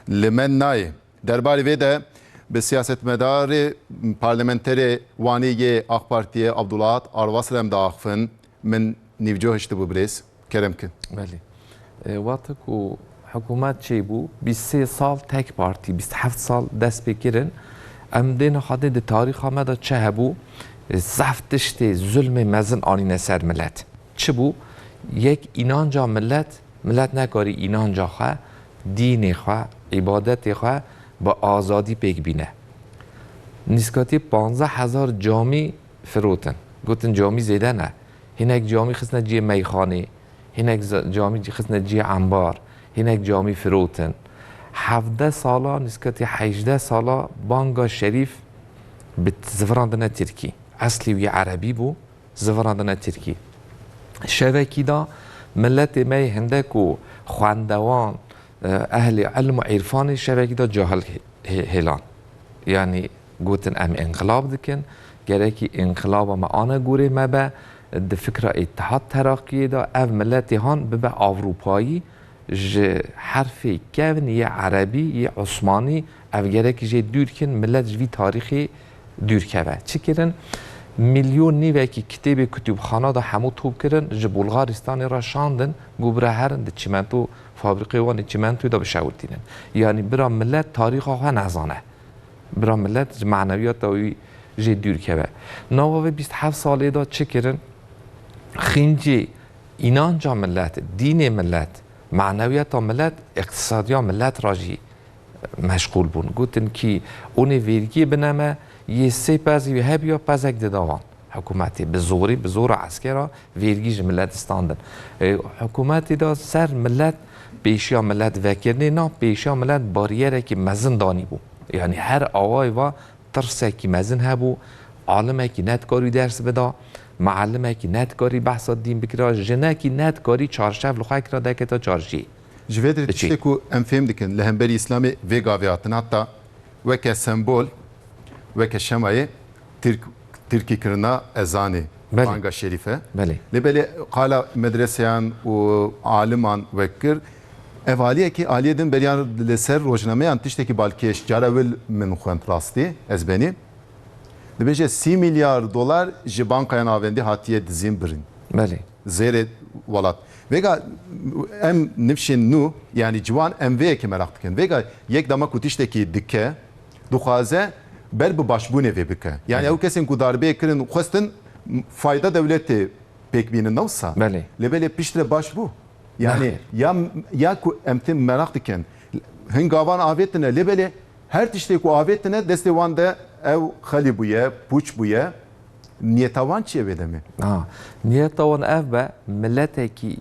Li me nayê. Derbarê vê de bi siyasetmedarê parlamenterê Wanê yê Ak Partiyê Abdulahat Arvas re em diaxivin. Min nîvco hiştibû birêz. Kerem ki. Belê. Wate ku hikûmet çê bû, bîst û sê sal tek partî, bîst û heft sal dest pê kirin. Em dê nexadin di tarîxa me de çi hebû, zehf tiştê zulmê mezin anîne ser milet. Çi bû? Yek înanca milet, milet nekarî înanca xwe dînê xwe, îbadetê xwe bi azadî pêk bîne. Nîskatî panzdeh hezar camî firotin. Gotin camî zêde ne. Hinek camî xistine cihê meyxanê, hinek camî xistine cihê embar, hinek camî firotin. Hevdeh sala, nîskatî hejdeh sala banga şerîf bi ziviran dine tirkî. Eslî wî erebî bû. zivirandine tirkî. Şevekî da miletê me yê hinde ku xwendewan, ehlê ilm û îrfanê şevekî da cahil hêlan. Yanî gotin em înqilab dikin, gerekî înqilaba me ane gorê me be, di fikra Îtîhad Teraqîyê da ev miletê han bibe Ewropayî, ji herfê kevn yê erebî yê osmanî ev gerekî jê dûr kin, milet ji vî tarîxê Dûr keve. Çi kirin? Milyon nîvekî kitêbê kutûbxana de hemû top kirin, ji Bulgaristanê re şandin ku bira herin di çîmento fabrîkê wan ê çîmentoyê de bişewitînin. Yanî bira milet tarîxa xwe nezane. Bira milet ji manewiyata wî jê dûr keve. Nava vê bîst heft salê de çi kirin? Xîncê înanca milet, dînê milet, manewiyata milet, îqtîsadiya milet re jî Meşxûl bûn. Gotin kî onê vêrgiyê bine me, yê sê pezî wî hebiya pezek dida wan. Hikûmetê bi zorî, bi zora eskera vêrgî ji milet distandin. Hikûmetê de ser milet pêşiya milet vekirinê na pêşiya milet barîyerekî mezin danîbû. Yanî her awayê ve tirsekî mezin hebû, alimekî nedikarî ders bida, mialimekî nedikarî behsa dîn bikira, jinekî nedikarî çarşev li xwe kira deketa çarşiyê. Ji vê derê tiştê ku em fêm dikin li hemberî îslamê vê gavê hatin heta weke sembol, weke şemayê tirk tirkî kirina ezanê banga şerîfe. Lê belê qala medreseyan û aliman wek kir. Ev aliyekê aliyê din beriya li ser rojnameyan tiştekî balkêş cara wil min xwend rastî ez benî. Dibêje sî milyar dolar ji bankayan avendî hatiye dizîn birîn. Belê. Zêrê welat. Vêga em nifşên nû yanî ciwan em vê yekê meraq dikin. Vêga yek dema ku tiştekî dike, dixwaze ber bi başbûnê vê bike. Yanî ew kesên ku darbeyê kirin xwestin fayda dewletê pêk bînin ne wisa? Belê. Lê belê piştre baş bû. Yanî ya ya ku em tê meraq dikin hin gavan avêtine lê belê her tiştê ku avêtine destê wan de ew xelî bûye, pûç bûye. Niyeta wan çi ye vê demê? Ha, niyeta wan ev be miletekî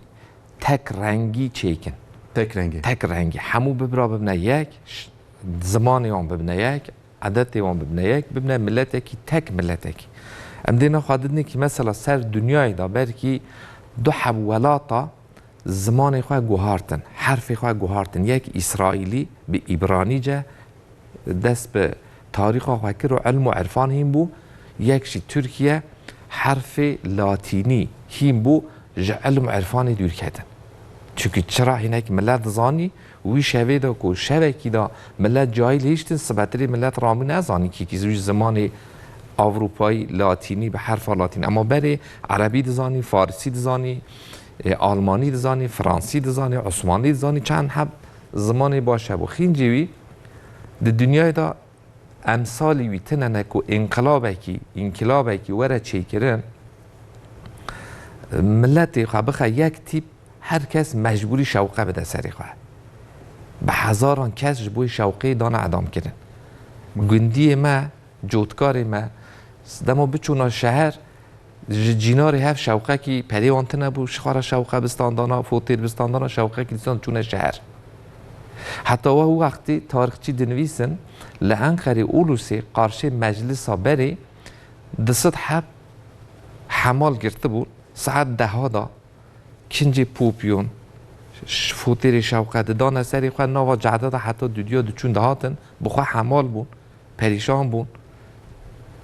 tek rengî çêkin. Tek rengî. Tek rengî. Hemû bibra bibne yek, zimanê wan bibne yek, edetê wan bibne yek, bibne miletekî tek miletekî. Em dê ne xwe didin kî mesela ser dinyayê de ber kî du heb welata zimanê xwe guhartin, herfê xwe guhartin. Yek îsraîlî bi îbranîce, Dest bi tarîxa xwe kir û ilm û irfan hîn bû. Yek jî Tirkiye herfê latînî hîn bû ji ilm û irfanê dûr ketin. Çimkî çira hinek milet dizanî wî şevê de ku şevekî de milet cahîl hiştin sibetirê milet rabû nezanî kî kî wî zimanê Ewropayî latînî bi herfa latînî ema berê erebî dizanî, farisî dizanî, almanî dizanî, fransî dizanî, osmanlî dizanî çend heb Zimanê baş hebû. Xîncê wî di dinyayê de emsalî wî tine ne ku înqilabekî, înkîlabekî were çêkirin, miletê xwe bixe yek tîp, her kes mecbûrî şewqe bide serê xwe. Bi hezaran kes ji bo şewqê dane edamkirin. Gundiyê me, cotkarê me, dema biçûna şeher, Ji cînarê hev şewqekî perê wan tune bû, xwara şewqe bi standana, fotêl bi standana şewqekî dîsan çûne şeher. Heta weh û wextê tarixçî dinivîsin, li Enqerê Ulusê qarşê meclisa berê di sed heb hemal girtibûn, saet deha da kincê popyon, fotêlê şewqe didane serê xwe, nava cade de heta dûdiya diçûn dihatin bi xwe hemal bûn. Perîşan bûn.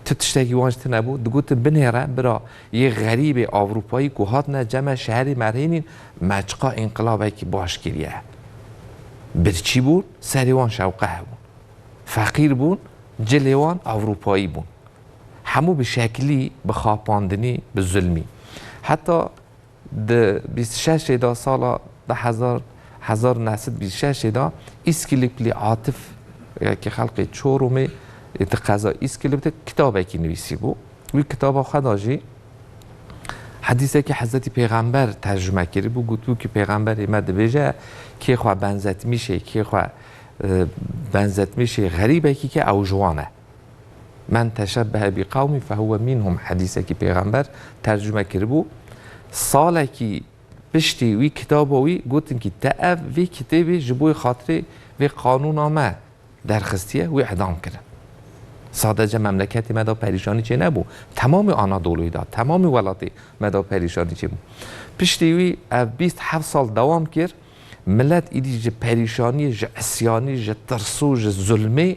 Ti tiştekî wan ji ti nebû? Digotin binêre bira yê xerîbê Ewropayî ku hatine ceme şerê me rênîn, me çiqa înqilabekî baş kiriye. Birçî bûn, serê wan şewqeh bûn. Feqîr bûn, cilê wan Ewropayî bûn. Hemû bi şeklî, bi xapandinî, bi zulmî. Heta Di bîst û şeş ê de sala du hezar hezar û neh sed û bîst û şeş ê de Îskilip li Atif yekê xelkê Çorumê yê di qeza Îskilip de kitabekî nivîsîbû. Wî kitaba xwe de jî hedîsekî Hezretî Pêxember tercume kirîbû. Gotibû ki Pêxemberê me dibêje kê xwe benzetmîşê kê xwe benzetmîşê xerîbekî ke ew ji wan e. Men teşebbehe bi qawmi fehuwe minhum hedîsekî pêxember tercume kiribû. Salekî piştî wî kitaba wî gotin kî te ev vê kitêbê ji bo xatirê vê qanûna me derxistiye wî idam kirin. Sadece memleketê me de perîşanî çê nebû. Temamê Anadolu'yê de, temamê welatê me de perîşanî çê bû. Piştî wî ev bîst heft sal dewam kir. Milet îdî ji perîşanî, ji isyanî, ji tirsû, ji zulmê.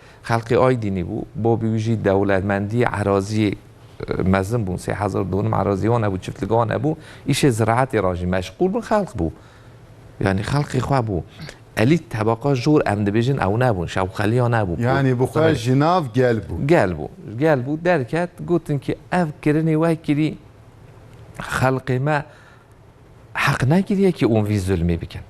Xelkê Aydînî bû. Bavê wî jî dewletmendiyê eraziyê mezin bûn. Sê hezar donim eraziyê wan hebû, çiftlikê wan hebû. Îşê ziraetê ra jî meşxûl bûn. Xelk bû. Yanî xelkê xwe bû. Elît, tebaqa jor em dibêjin ew nebûn. Şewxeliya nebû. Yanî bi xwe ji nav gel bû. Gel bû. Gel bû. Derket. Gotin ki ev kirinê we kirî xelkê me. Heq negiriye ki ûn vî zulmî bikin.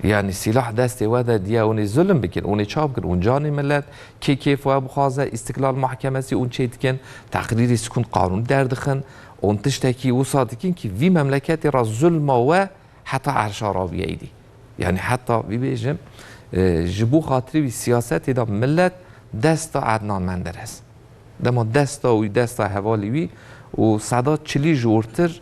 Yanî sîlah destê we de diya ûnê zulm bikin, ûnê çav bikin ûn canê milet, kê kêf we bixwaze, îstiklal mahkemesî ûn çê dikin, teqrîrê sikûn qanûn derdixin ûn tiştekî wisa dikin ki vî memleketê ra zulma we heta erşa ra biyeydî. Yanî heta bibêjim ji bo xatirê wî siyasetê da milet desta Ednan Menderes. Dema desta wî desta hevalê wî û seda çilî jor tir,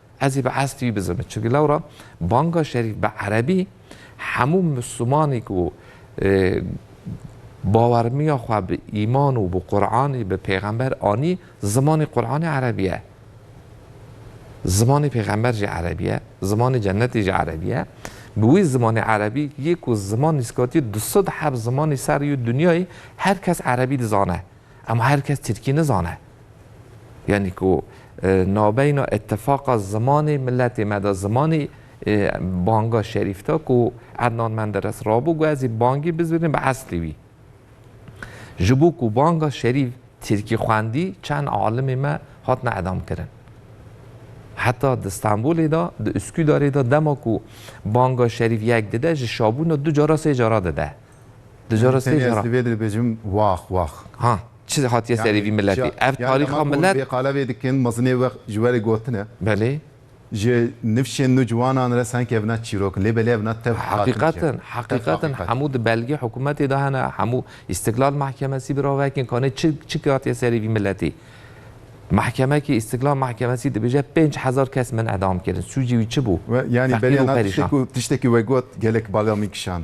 Ez ê bi estî wî bizinim. Çimkî lewra banga şerîf bi erebî hemû Mislimanî ku bawermiya xwe bi îman û bi Quranî bi pêxember anî zimanî Quranî erebî ye. Zimanî pêxember jî erebî ye, zimanî cennetî jî erebî ye. Bi wî zimanî erebî yê ku ziman nîskatî du sed heb zimanî ser yû dinyayê her kes erebî dizane. Ema her kes tirkî nizane. Yanî ku navbeyna îtîfaqa zimanê miletê me de zimanê banga şerîf de ku Ednan Menderes rabû got ez ê bangî bizînim bi eslê wî. Ji bo ku banga şerîf tirkî xwendî çend alimê me hatine edamkirin. Heta di Stenbolê de, di Uskûdarê de dema ku banga şerîf yek dide ji şabûna du cara sê cara dide. Di cara sê Tenê ez cara. li vê de dibêjim wax wax. Ha, çi hatiye serê vî miletê? Ev Yani tarîxa dema ku hûn milet. vê qala vê dikin mezinê we ji we re gotin e. Belê. Ji nifşên nû ciwanan re sanki ev na çîrok in. Lê belê ev na tev hakim jî ye. Heqîqetin, Tev heqîqetin haqiqet. hemû di belgê hikûmetê de hene, hemû Îstiklal Mahkemesî bi ravekin kanê çi çi hatiye serê vî miletê. Mahkemekî Îstiklal Mahkemesî dibêje pênc hezar kes min edam kirin. Sûcê wî çi bû? We yani belê Feqîr û na tiştek perîşan. û tiştekî we got gelek bala min kişand.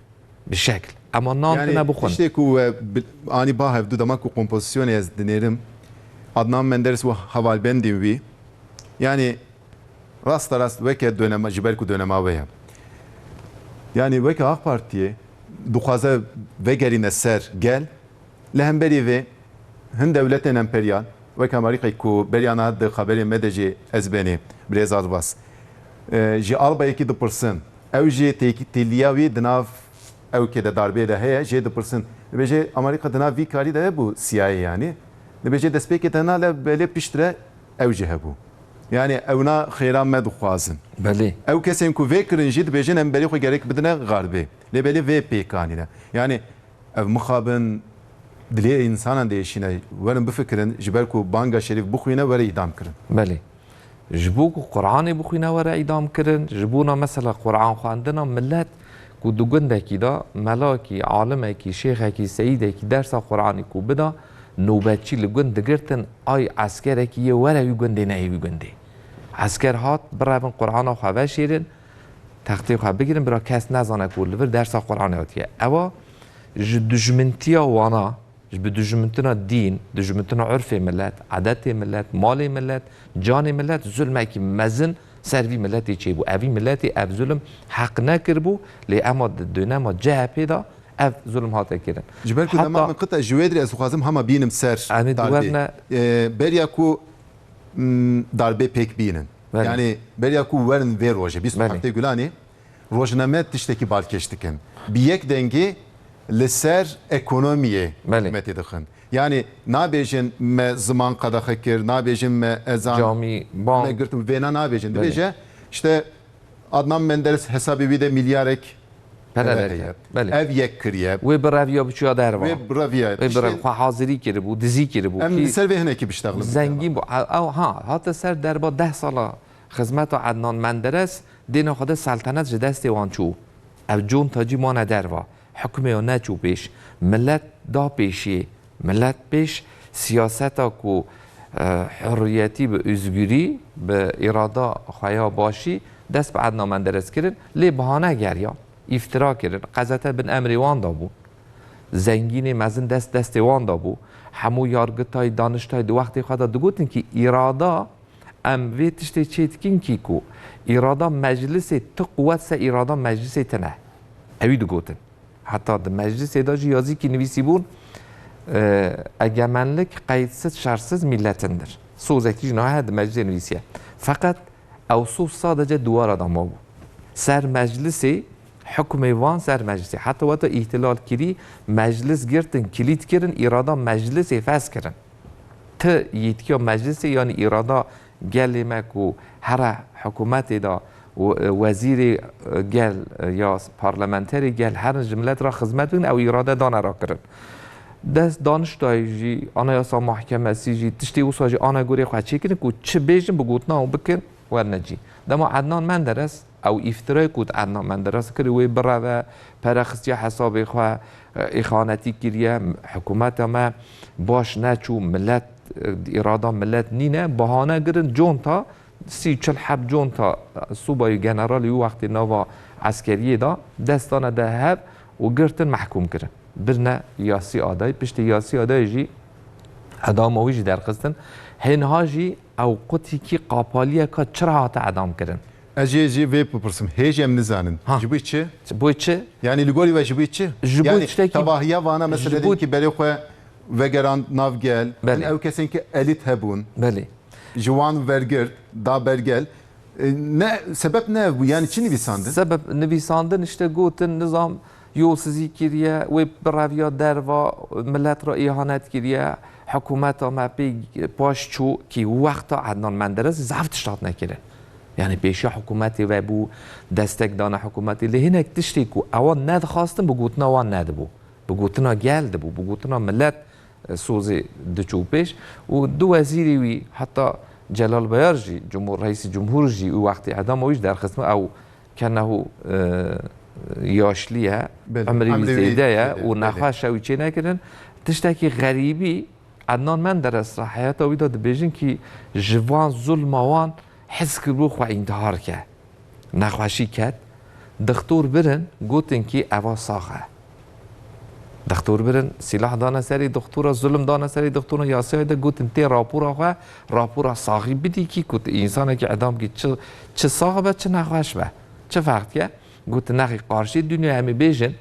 Bi şekl. Ema nan tine bixwin. Yani tiştê ku we anî ba hev du dema ku kompozisyonê ez dinêrim Adnan Menderes û hevalbendên wî yanî rasta rast weke done ji ber ku donema we ye. Yanî weke Ak Partiyê dixwaze vegerîne ser gel. Li hemberî vê, hin dewletên emperyal wek Amerîkayê ku beriya niha di xeberê me de jî ez benê Birêz Arbas ji albayekî dipirsin, ew jî têkîtîliya wî di nav ewkê de darbê de heye jê dipirsin, dibêje Amerîka di nav vî karî de hebû CIA yanî dibêje destpêkê te nale belê piştre ew jî hebû yanî ewna xêra me dixwazin. Belê. Ew kesên ku vê kirin jî dibêjin em berê xwe gerek bidine xarbê lê belê vê pêkanîne yanî. Ev mixabin dilê însanan diêşîne. Werin bifikirin, ji ber ku banga şerîf bixwîne were îdam kirin. Belê. Ji bo ku Quranê bixwîne were îdam kirin. Ji bona mesela Quranxwendina milet ku di gundekî de melakî, alimekî, şêxekî, seyîdekî dersa Quranê ku bida, nobetçî li gund digirtin, ay eskerekî yê were wî gundê neyê wî gundê. Esker hat, birevin Qurana xwe veşêrin. Textê xwe bigirin bira kes nezane ku li vir dersa Quranê hatiye. Ewa ji dijmintiya wana, ji bi dijmintina dîn, dijmintina urfê milet, edetê milet, malê milet, canê milet zulmekî mezin ser vî miletê çêbû. Evî miletê ev zulm heq nekiribû lê ema di dönema CHP'ê de ev zulm hate kirin. Ji ber ku dema min qita ji wê dirê ez dixwazim hema bînim ser tardê. Beriya ku darbê pêk bînin. Yanî beriya ku werin vê rojê bîst û heftê Gulanê rojname tiştekî balkêş dikin. Bi yek dengê li ser ekonomiyê hikûmetê dixin. Yanî nabêjin me ziman qedexe kir, nabêjin me ezan me girt û vêna nabêjin. Dibêje îşte Adnan Menderes hesabê wî de milyarek pere heye. Ev yek kiriye. Wê bi reviya biçûya derve. Wê bi reviya. Wê bi reviya. Xwe hazirî kiribû, dizî kiribû. Em li ser vê hinekî biştexlin. Zengîn bû. Ew ha, hate ser derba deh sala xizmeta Adnan Menderes, dêna xwe de seltenet ji destê wan çû. Ev conta cî mane derve. Hikmê o ne çû pêş. Milet da pêşê. Milet pêş siyaseta ku hurriyetî bi ûzgûrî, bi îrada xwe ya başî dest bi Edna Menderes kirin, lê bihane geriyan, îftira kirin. Qezete bin emrê wan de bûn. Zengînê mezin dest destê wan de bû. Hemû yargitay, daniştay di wextê xwe de digotin kî îrada em vê tiştê çê dikin kî ku îrada meclisê ti quwet se îrada meclisê tine. Ewî digotin. Heta di meclisê de jî yazîkî nivîsîbûn egemenlik qeydsiz şersiz mîletindir. Sozekî jî nahe di meclisê nivîsiye. Feqet ew soz sadece diwara de mabû. Ser meclisê hukmê van ser meclisê. Heta weta îhtilal kirî meclis girtin, kilît kirin, îrada meclisê fes kirin. Ti yîtkiya meclisê yanî îrada Gelê me ku here hikûmetê de wezîrê gel ya parlamenterê gel herin ji milet re xizmet bikin ew îrade dane re kirin. Dest daniştayê jî anayasa mahkemesî jî tiştê wisa jî ane gorê xwe çêkirin ku çi bêjin bi gotina û bikin werne cî. Dema Ednan Menderes Ew îftirayê ku di Ednan Menderesê kirî wê bireve, pere xistiye hesabê xwe, îxanetî kiriye, hikûmeta me baş neçû, milet îrada milet nîne, bahane girin conta sî çil heb conta subayî generalî wî wextê nava eskeriyê da, dest dane de hev û girtin mehkûm kirin. Birine Yasî Adayî, piştî Yasî Adayê jî edama wî jî derxistin. Hê niha jî ew qutîkî qapaliyeka çira hate edamkirin. Ez ê jî vê bipirsim. Hê jî em nizanin. Ji bo çi? Ji bo çi? Yanî li gorî we ji bo çi? Ji bo tiştekî. Yanî tevahiya vana mesela diyelim kî berê xwe vegerand nav gel, hin ew kesên kî elît hebûn. Belê. Ji wan wergirt, da ber gel. Ne sebep ne ev bû. Yanî çi nivîsandin? Sebep nivîsandin, işte gotin nizam. Yolsizî kiriye, wê bireviya derva, milet re îhanet kiriye, hikumeta me pê paş çû kî wexta Ednan Menderes zaf tişt hatine kirin. Yanî pêşiya hikumetê vebû, destek dana hikumetê lê hinek tiştê ku ewan nedixwastin bi gotina wan nedibû. Bi gotina gel dibû, bi gotina milet sozê diçû pêş û du wezîrê wî heta Celal Bayar jî, Reîsê Cumhur jî û wextê edama wî jî derxistin ew Kenahu yaşlî ye, emirî wî zêde ye û nexweş e wî çênekirin. Tiştekî xerîbî Ednan Menderes ra heyata wî de dibêjin kî ji van zulma wan hez kiribû xwe întihar ke. Nexweşî ket, dixtor birin gotin kî eva sax e. Dextor birin, sîlah dane serê dextoran, zulm dane serê dextoran, yasayê de gotin tê rapora xwe, rapora saxî bidî kî ku tu însanekî edam bikî çi çi sax be çi nexweş be. Çi fext ye? Gotin nexî qarşê dinya em ê bêjin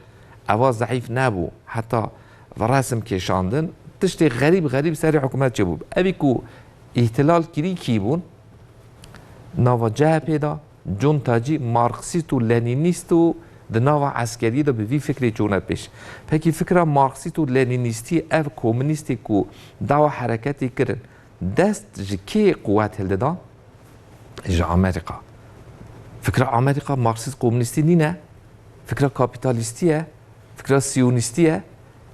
ewa zeîf nebû heta resim kêşandin tiştê xerîb xerîb serê hikûmet çêbû. Evî ku îhtilal kirî kî bûn nava CHP'ê de, John Tacî marksîst û lenînîst û di nava eskeriyê de bi vî fikrê çûne pêş. Pekî fikra marksîst û lenînîstî ev komînîstê ku dawa hereketê kirin dest ji kê quwet hildida? Ji Amerîka. Fikra Amerîka marksîst komînîstî nîne, fikra kapîtalîstî ye, fikra sîyonîstî ye.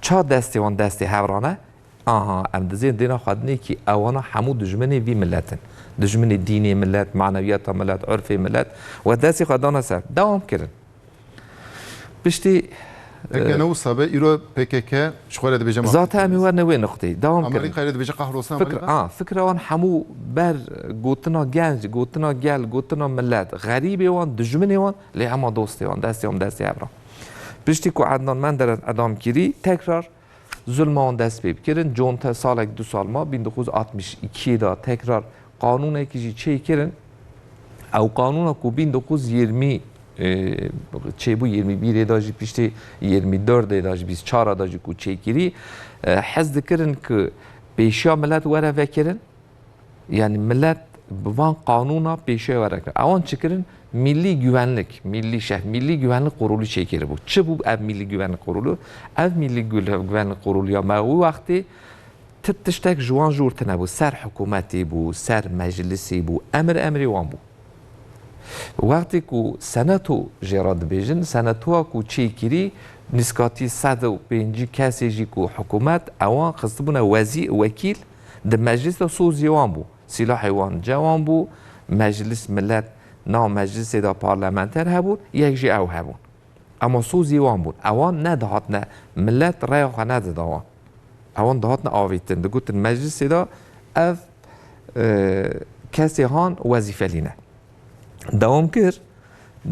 Ça destê wan destê hevran e? Aha em dizên dêna xwedinê kî ewana hemû dijminê vî milet in. Dijminê dînê milet, manewiyata milet, urfê milet we destê xwe dana ser. Dewam kirin. Piştî Eke ne wisa be îro pkk ji xwe re dibêje mafê. Zate em ê werin wê nuqteyê. Dewam kirin. Amerîkayê re dibêje qehrosna Amerîka. Fikra, a, fikra wan hemû ber gotina genc, gotina gel, gotina milet, xerîbê wan, dijminê wan lê hema dostê wan, destê wan bi destê hev re. Piştî ku Ednan Menderes edam kirî tekrar Zulma wan dest pê kirin. Conte salek du sal ma bin di xwez altmîş îkî de tekrar qanûnekî jî çê kirin. Ew qanûna ku bin di xwez yirmî çêbû yirmî bîrê de jî piştê yirmî derdê de jî bîst çar de jî ku çêkirî hez dikirin ku pêşiya milet were vekirin. yani millet bi van qanûna pêşê were kirin. Ewan çi kirin? Mîllî güvenlik, mîllî şeh, mîllî güvenlik qurûlî çêkiribû. Çi bû ev mîllî güvenlik qurûlû? Ev mîllî güvenlik qurûlîya me wî wextê ti tiştek ji wan jûr tinebû. Ser hikûmetî bû, ser meclisî bû, emir emrê wan bû. Wextê ku seneto jê re dibêjin, senetoya ku çêkirî nîskatî sed û pêncî kesê jî ku hikûmet ewan xistibûne wezî, wekîl, Di meclîs de sozî wan bû, sîlahê wan ceh wan bû, meclîs milet nav meclîsê de parlamenter hebûn, yek jî ew hebûn. Ema sozî wan bûn. Ewan nedihatine, milet reya xwe nedida wan. Ewan dihatine avîtin, digotin meclîsê de ev kesê han wezîfelî ne. Dewam kir,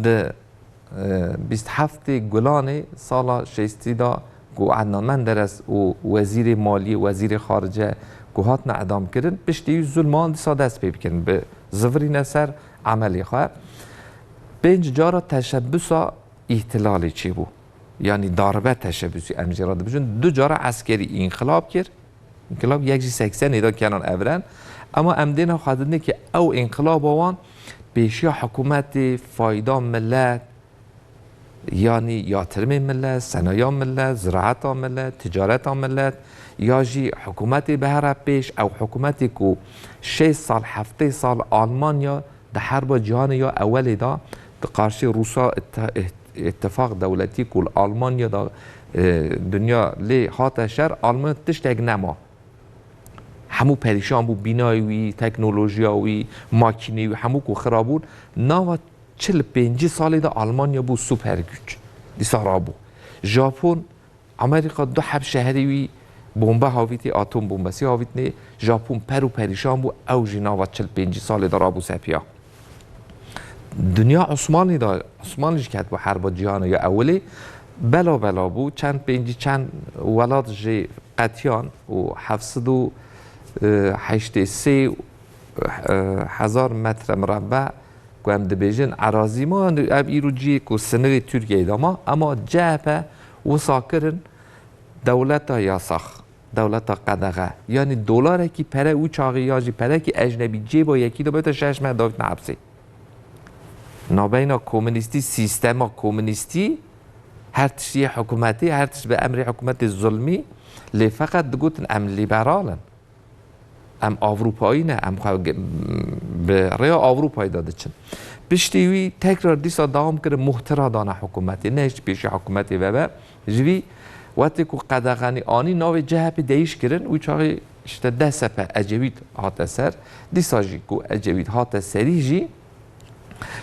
Di bîst û heftê Gulanê sala şêstî de ku Edna Menderes û Wezîrê Maliyê, Wezîrê Xarice ku hatine edamkirin, piştî wî zulman dîsa dest pê bikin, bi zivirîne ser emelê xwe. Pênc cara teşebbûsa îhtilalê çêbû. Yanî daribe teşebbûsî em jê re dibijin. Du cara eskerî înxilab kir. Înqilab yek jî seksen nêdan Kenan Evren, ema em dê nava xwedin nê ke ew înqilaba wan pêşiya hikûmetê, fayda milet, yanî yatirimên milet, senaya milet, ziraeta milet, ticareta milet ya jî hikûmetê bihera pêş, ew hikûmetê ku şêst sal, heftê sal Almanya Di Herba Cîhanê ya Ewelê de di qarşî Rûsa Îtîfaq Dewletî ku li Almanya de dinya lê hate şer Almanya tiştek nema. Hemû perîşan bû bînayê wî, teknolojiya wî, makîneyê wî hemû ku xira bûn. Nava çil û pêncî salê de Almanya bû super güç. Dîsa rabû. Japon Amerîka du hevşeherî wî bombe havîtî, atom bombesî havîtinê. Japon per û perîşan bû, ew jî nava çil pêncî salê de rabû ser piya. Dinya Osmanlî de, Osmanlî jî ketibû herba cîhana ya ewilê. Bela bela bû, çend pêncî çend welat jê qetiyan û heft sed û heştê sê hezar metre mirebbe ku em dibêjin erazî ma, ev îro ciyê ku sinirê Tirkiyeyê de ma, ema CHP Wisa kirin dewleta yasax, dewleta qedexe, yanî dolarekî pere û çaxî yan jî perekî ejnebî cêba yekî de bete şeş meh davîtine hepsê. Navbeyna komînîstî, sîstema komînîstî her tişt yê hikûmetê, her tişt bi emrê hikûmetê zulmî lê feqet digotin em lîberal in. Em Ewropayî ne, em xwe bi rêya Ewropayê de diçin. Piştî wî tekrar dîsa dewam kirin muhtira dana hikûmetê. Neh ji pêşî hikûmetê vebe. Ji vî wetê ku qedexanî anî navê CHP'ê deyîş kirin wî çaxê işte DSP Ecevît hate ser. Dîsa jî ku Ecevît hate serî jî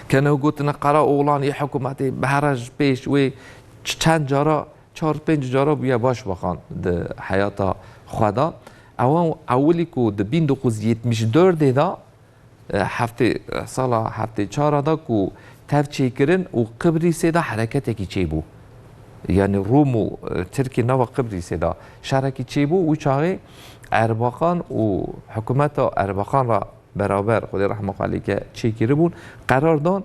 keno gotina Karaoğlan yê hikûmetê bi here ji pêş wê çend cara Çar pênc cara bûye başbakan di heyata xwe de. Ew ewilî ku di bin du xuz yetmiş dordê de heftê sala heftê çar a de ku tev çêkirin û Qibrîsê de hereketekî çêbû. Yanî Rûm û Tirkî nava Qibrîsê de şerekî çêbû û çaxê Erbakan û hikûmeta Erbakan re beraber Xwedê rehma xwe lê bike çêkiribûn, qerar dan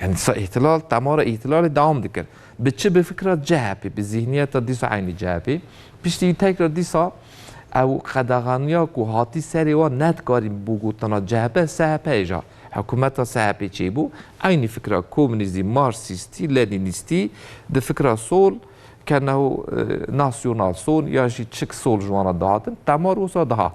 Yani dîsa îhtilal, temara îhtilalê dewam dikir. Bi çi? Bi fikra CHP'ê, bi zîhniyeta dîsa eynî CHP'ê. Piştî wî tekrar dîsa ew qedexaniya ku hatî serê wan nedikarî bibû gotina CHP, SHP'ê ja. Hikûmeta SHP'ê çêbû. Eynî fikra komûnîzî, marksîstî, lenînîstî, di fikra sol, keneho nasyonal sol yan jî çik sol ji wan re dihatin, temar wisa dihat.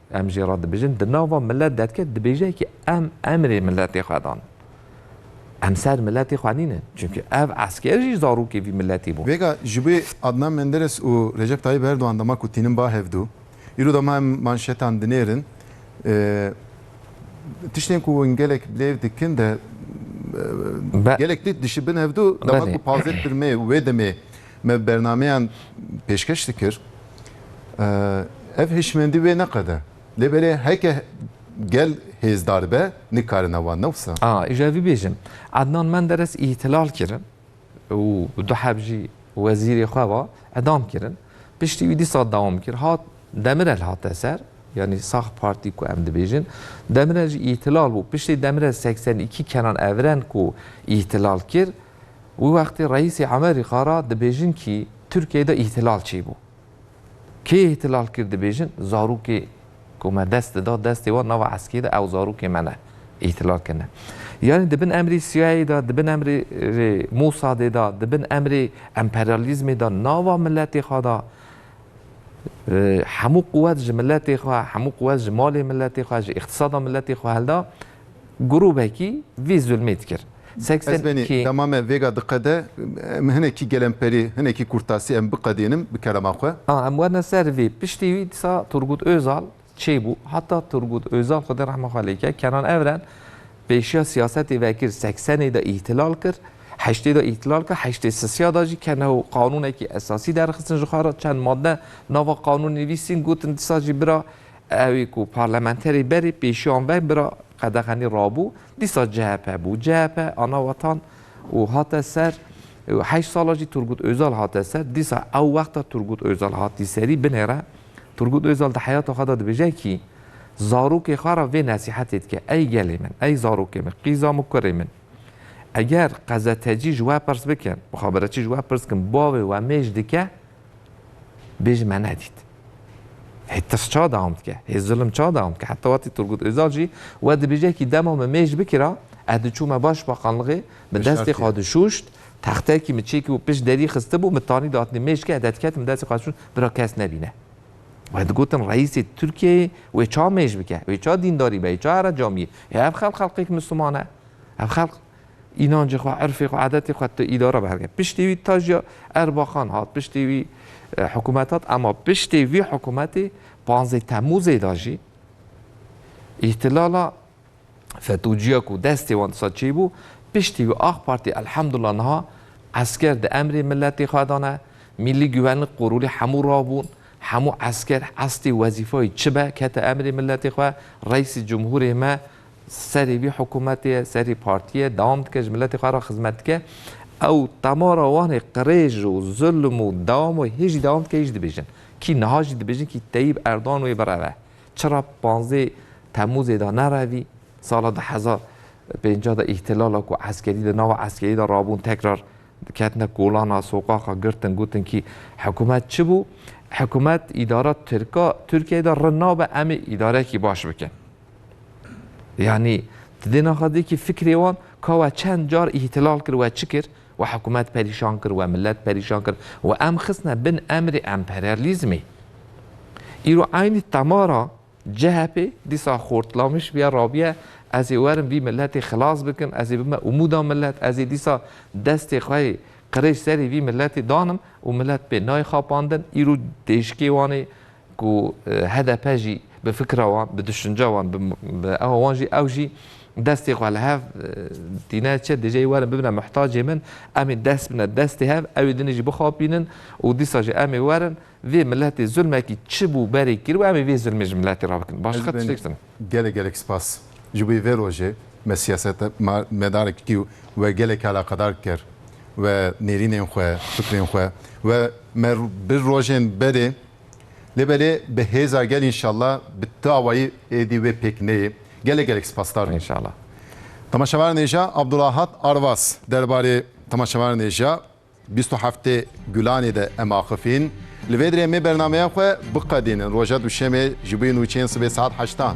Em jê re dibêjin di nava milet de dike dibêje kî em emrê miletê xwe dan. Em ser miletê xwe nîne. Çimkî ev esker jî zarokê vî miletê bû. Vêga ji bo Adnan Menderes û Recep Tayyip Erdogan dema ku tînin ba hevdu. Îro dema em manşetan dinêrin. Tiştên ku hûn gelek bilêv dikin de gelek tê dişibin hevdu dema ku pazdeh tirmê û wê demê. Me bernameyan pêşkeş dikir. Ev hişmendî wê neqede. Lê belê heke gel hêzdar be nikarine wan ne wisa. A, îja vî bêjim. Ednan Menderes îhtilal kirin û du heb jî wezîrê xwe ve edam kirin. Piştî wî dîsa dewam kir. Hat Demirel hate ser, yanî sax partî ku em dibêjin. Demirel jî îhtilal bû. Piştî Demirel seksen îkî kenan evren ku îhtilal kir Wî wextê Reîsê Emerîka ra dibêjin kî Tirkiyeyê de îhtilal çêbû. Kê îhtilal kir dibêjin zarokê ku me dest dida destê wan nava eskê de ew zarokê me ne. Îhtilal kirine. Yanî di bin emrê CIA'yê de, di bin emrê rê Mosadê de, di bin emrê emperyalîzmê de nava miletê xwe de hemû quwet ji miletê xwe, hemû quwet ji malê miletê xwe, ji îqtisada miletê xwe hilda, Grûbekî vî zulmê dikir. Ez benî dema me vêga diqede, em hinekî gelemperî, hinekî kurtasî em biqedînim bi kelama xwe. A, em werne ser vê. Piştî wî dîsa Turgut Ozal çêbû. Heta Turgut Ozal Xwedê rehma xwe lê bike, Kenan Evren pêşiya siyasetê vekir. Seksenê de îhtilal kir, heştê de îhtilal kir, heştê sisiya de jî kene û qanûnekî esasî derxistin ji xwe re. Çend madde nava qanûnê nivîsîn, gotin dîsa jî bira Ew ku parlamenterê berê pêşiyan ve bira qedexenî rabû, dîsa CHP bû. CHP ana wetan û hate ser. Heşt sala jî Turgut Ozal hate ser. Dîsa ew wexta Turgut Ozal hatî serî binê re. Turgut Ozal di heyata xwe de dibêje kî zarokê xwe re vê nesîhetê dike, Ey gelê min, ey zarokê min, qîza min, kurê min. Eger qezetecî ji we pirs bikin, muxaberetçî ji we pirs bikin bavê we mêj dike? Bêje me nedît. Hê tirs ça dewam dike, hê zilim ça dewam dike. Heta wetî Turgut Ozal jî we dibêje kî dema min mêj bikira, ez diçûm me Başbakanlixê, bi destê xwe dişûşt, textekî min çêkî bû pişt derî xistibû, min tanî datinê mêj ke ez de diketim destê xwe dişûn bira kes nebîne. We digotin Reîsê Tirkiyeyê wê ça mêj bike, wê ça dîndarî be, wê ça here camiyê. Hê ev xelq xelqêk Misliman e. Ev xelq Înancê xwe, erfê xwe, adetê xwe tu îdare bi hev nî. Piştî wî Taciya Erbakan hat, piştî wî hikûmet hat ema piştî vî hikûmetê panzdeh Temmûzê de jî îhtilala FETO'ciya ku destê wan disa çêy bû, piştî wî Ak Partî elhamdullah niha esker di emrê miletê xwe de ne, Mîllî Guvenlik qurulî hemû rabûn, hemû esker estê wezîfeyê çi be kete emrê miletê xwe, Reîsê Cumhurê me Serî vî hikûmetê ye, serî partî ye, dewam dike ji miletê xwe re xizmet dike. Ew temara wan ê qirêj û zilm û dewam û hê jî dewam dike, hê jî dibêjin. Kî niha jî dibêjin kî Teyîb Erdogan wê bireve. Çira panzdeh Temûzê de nerevî, sala du hezar û pêncah de îhtilala ku eskerî di nava eskerî de rabûn tekrar ketine kolana soqaxa girtin gotin kî hikûmet çi bû? Hikûmet, îdara tirka Tirkiyeyê de rind nabe em ê îdarekî baş bikin. Yanî tu dê naxa dikî fikrê wan ka we çend car îhtilal kir we çi kir? We hikûmet perîşan kir, we milet perîşan kir, we em xistine bin emrê emperyalîzmê. Îro eynî temara CHP'ê dîsa xortlamiş bûye, rabûye ez ê werim vî miletê xilas bikim, ez ê bime umûda milet, ez ê dîsa destê xwe yê qirêj serê vî miletê danim û milet pê nayê xapandin. Îro têjikê wan ê ku hdp jî bi fikra wan, bi duşinca wan, bi ewa wan jî ew jî destê xwe li hev tîne çi dije werin bibine mihtacê min, em ê dest bine destê hev, ew ê din jî bixapînin û dîsa jî em ê werin vê miletê zulmekî çi bû berê kir û em ê vê zulmê ji miletê re bikin. Başqa tiştek din. Gelek gelek spas ji bo vê rojê me siyaset ma medarek dikî û we gelek eleqedar dikir we nêrînên xwe, fikrên xwe we me bi rojên berê. Lê belê bi hêza gel înşallah bi ti awayî êdî wê pêk neyê. Gelek gelek spasdar bûm. Înşallah. Temaşevanêja Abdulahat Arvas derbarê temaşevanêja bîst û heftê Gulanê de em axifîn. Li vê dirê em ê bernameya xwe biqedînin roja Duşemê ji bo nûçeyên sibê saet heştan.